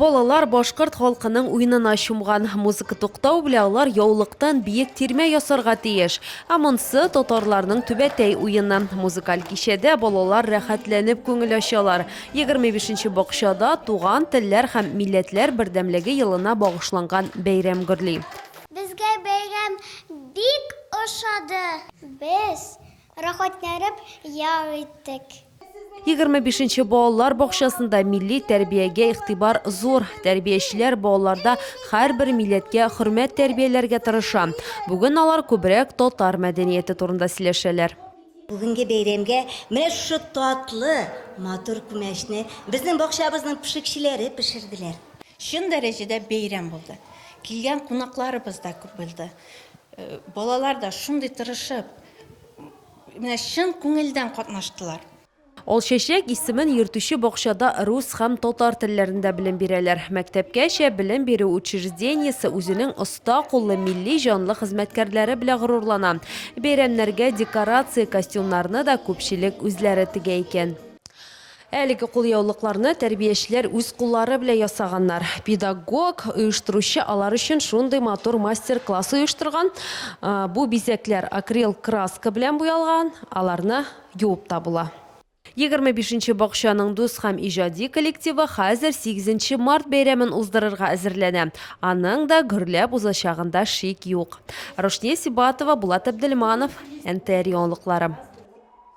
Балалар башкорт халкының уенына чумган. Музыка туктау белән алар яулыктан биек тирмә ясарга тиеш. Ә монсы татарларның түбәтәй уены. Музыкаль кичәдә балалар рәхәтләнеп күңел ачалар. 25 нче бакчада Туган телләр һәм милләтләр бердәмлеге елына багышланган бәйрәм гөрли. Безгә бәйрәм бик ошады. Без рәхәтләнеп ял иттек. Егерме бишенче балалар бакчасында милли тәрбиягә игътибар зур. Тәрбиячеләр балаларда һәрбер милләткә хөрмәт тәрбияләргә тырыша. Бүген алар күбрәк татар мәдәнияте турында сөйләшәләр. Бүгенге бәйрәмгә менә шушы татлы, матур күмәчне безнең бакчабызның пешекчеләре пешерделәр. Чын дәрәҗәдә бәйрәм булды. Килгән кунакларыбыз да күп булды. Балалар да шундый тырышып, менә чын күңелдән катнаштылар. Алчәчәк исемен йөртүче бакчада рус һәм татар телләрендә белем бирәләр. Мәктәпкәчә белем бирү учреждениесе үзенең оста куллы милли җанлы хезмәткәрләре белән горурлана. Бәйрәмнәргә декорация, костюмнарны да күпчелек үзләре тегә икән. Әлеге кулъяулыкларны тәрбиячеләр үз куллары белән ясаганнар. Педагог, оештыручы алар өчен шундый матур мастер-класс оештырган. Бу бизәкләр акрил краска белән буялган, аларны юып та була. Егерме бишенче бакчаның дус һәм иҗади коллективы хәзер сигезенче март бәйрәмен уздырырга әзерләнә. Аның да гөрләп узачагында шик юк. Рушния Сибатова, Булат Әбделманов, НТР яңалыклары.